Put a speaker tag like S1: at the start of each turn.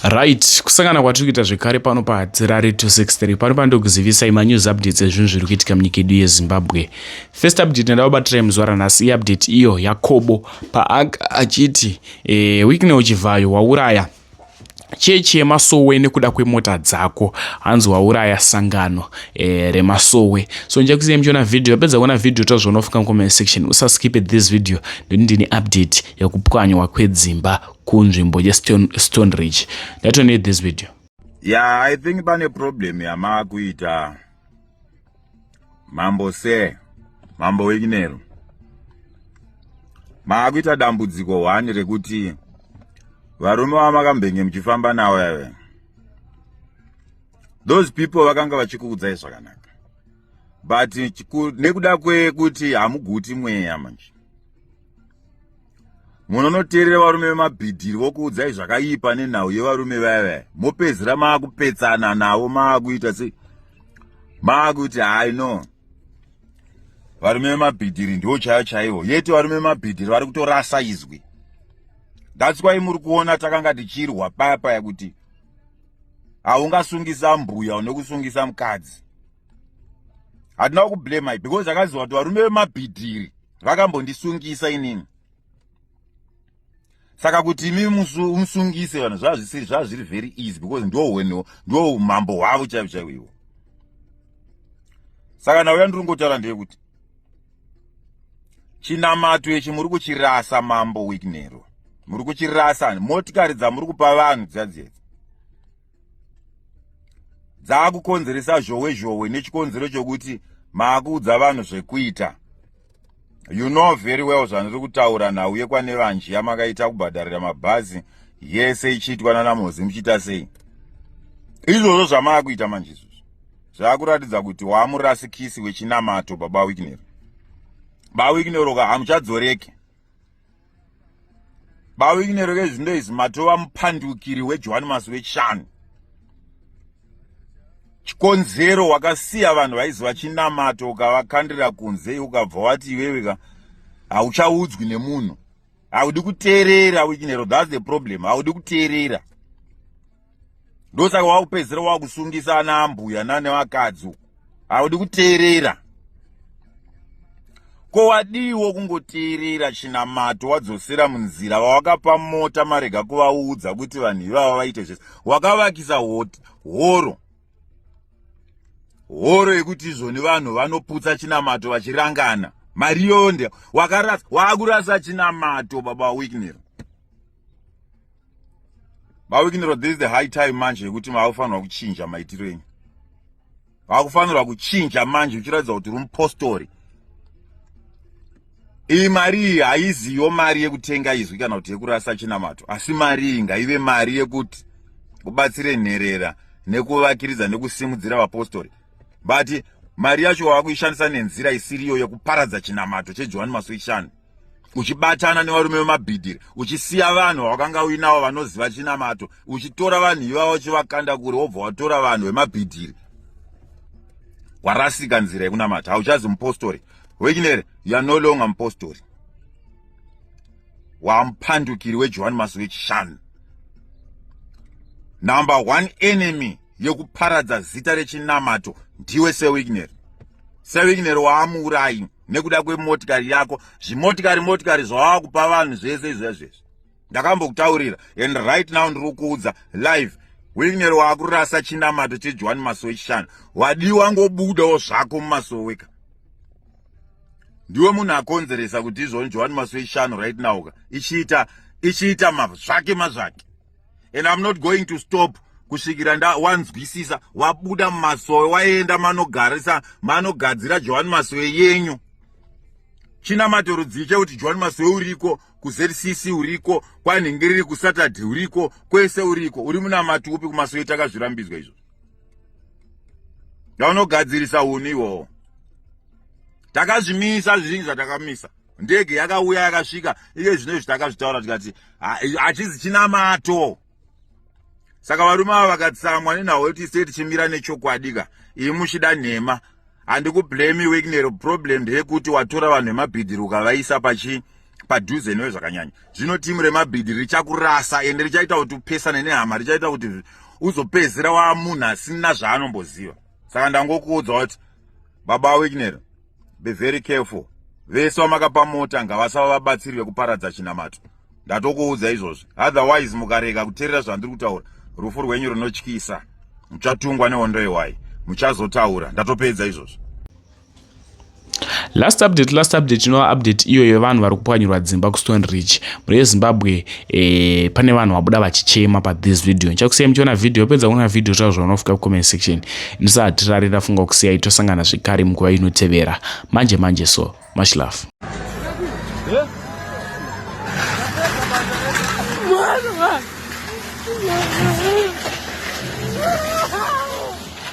S1: right kusangana kwatiri kuita zvekare pano padzirare 263 pano pandokuzivisai manews updates ezvinhu zviri kuitika munyika yedu yezimbabwe first update ndada kubatirai muzuva ranhasi iupdate iyo yakobo paanga achiti e, eh, wikneo chivhayo wauraya chechi yemasowe nekuda kwemota dzako hanzi wauraya sangano e, remasowe so ndichakusiya muchiona vhidhiyo yapedza kuona vhidhiyo tazvona ufunga mucomment section usaskipe this video ndini ndine update yekupwanywa kwedzimba kunzvimbo yestone ridge let need this video yeah i
S2: think pane problem yamaakuita mambo se mambo wekinero maakuita dambudziko one rekuti varume vamakambenge muchifamba nawo yave those people vakanga vachikuudzai zvakanaka but nekuda kwekuti hamuguti mweya manje munonoteerera varume vemabhidhiri vokuudzai zvakaipa nenhau yevarume vaya vaya mopedzera maakupetsana navo maakuita sei maakuti hai no varume vemabhidhiri ndiwo chaiyo chaiwo yeti varume vemabhidhiri vari kutorasa izwi that's why muri kuona takanga tichirwa paya paya kuti haungasungisa mbuya unokusungisa mukadzi hatina kublema because akaziva kuti varume vemabhidhiri vakambondisungisa inini saka kuti imi musungise vanhu zvazvisiri zvaa zviri very easy because ndohweno ndo umambo hwavo chaivo chaivo ivo saka navo yandiri kungotaura ndeyekuti chinamato ichi muri kuchirasa mambo wiknero muri kuchirasa motikari dzamuri kupa vanhu dziyadziedzi dzaakukonzeresa zhowe zhowe nechikonzero chokuti maakuudza vanhu zvekuita you know very well zvandiri kutaura nhau yekwane vanji yamakaita kubhadharira mabhazi yese ichiitwa nana mozi muchiita sei izvozvo zvamaakuita manje izvozvo zvaakuratidza kuti waamurasikisi wechinamato baba wiknero baba wiknero ka hamuchadzoreki bawikinero kezvindo izvi matova mupandukiri wejohani masi wechishanu chikonzero wakasiya vanhu vaizi vachinamata ukavakandira kunze ukabva wati iweweka hauchaudzwi nemunhu haudi kuteerera wikinero thats the problem haudi kuteerera ndosaka wakupedzisira wakusungisa ana ambuya nane vakadzi uku haudi kuteerera ko wadiiwo kungoteerera chinamato wadzosera munzira vawakapa mota marega kuvaudza kuti vanhu ivava vaite zvese wakavakisa horo horo yekuti izvoni vanhu vanoputsa chinamato vachirangana mari yonde wakarasa waakurasa chinamato baba wikner mawikiniro this is the high time manje yekuti maakufanirwa kuchinja maitiro enyu maakufanirwa kuchinja manje uchiratidza kuti uri mupostori iyi mari iyi haiziyo mari yekutenga izwi kana kuti yekurasa chinamato asi mari iyi ngaive mari yekuti ubatsire nherera nekuvakiridza nekusimudzira vapostori but mari yacho wava kuishandisa nenzira isiriyo yekuparadza chinamato chejohani masoishani uchibatana nevarume vemabhidhiri uchisiya vanhu vawakanga uinavo vanoziva chinamato uchitora vanhu ivavo uchivakanda kure wobva watora vanhu vemabhidhiri warasika nzira yekunamata hauchazi mupostori wekinere you are no longer mupostori waamupandukiri wejohani masi wechishanu number one enemy yekuparadza zita rechinamato ndiwe sewigneri sewigneri waamuurayi nekuda kwemotikari yako zvimotikari motikari zvawava kupa vanhu zvese izvezvezvi ndakambokutaurira and right now ndiri kuudza live wigneri waakurasa chinamato chejohani masowe chishanu wadiwa ngobudawo zvako mumasoweka ndiwe munhu akonzeresa kuti izvoni johani maswe ishanu right now ka ichiita ichiita mazvake mazvake and i'm not going to stop kusvikira ndawanzwisisa wabuda mumasowe waenda manogarisa manogadzira johani masowe yenyu chinamato rudzii chekuti johani masowe uriko kuzcc uriko kwanhingiriri kusaturday uriko kwese uriko uri munamati upi kumasowe takazvirambidzwa izvo ndaunogadzirisa uni iwowo takazvimisa zvizingi zvatakamisa ndege yakauya yakasvika iye zvino izvi takazvitaura tikati hachizi chinamato saka varume ava vakatsamwa nenhau yekuti sei tichimira nechokwadika iyi muchida nhema handikublame wegnero problem ndeyekuti watora vanhu vemabhidhiri ukavaisa pachi padhuze newe zvakanyanya zvino timu remabhidhiri richakurasa ende richaita kuti upesane nehama richaita kuti uzopedzera wamunhu asina zvaanomboziva saka ndangokuudzwa kuti baba wickner be very careful vese vamakapa mota ngavasava vabatsiri vekuparadza chinamato ndatokuudza izvozvi otherwise mukarega kuteerera zvandiri kutaura rufu rwenyu runotyisa muchatungwa nehondo yewai muchazotaura ndatopedza izvozvi
S1: last update last update inova update iyo yevanhu vari kupwanyirwa dzimba kustone rich mhuri yezimbabwe eh, pane vanhu vabuda vachichema pathis video ndichakusiyai muchiona video yopedza kuona video zvavo zvaunofika kucomment section ndisahatirarira funga kusiyai tosangana zvekare mukuva inotevera manje manje so much love yeah.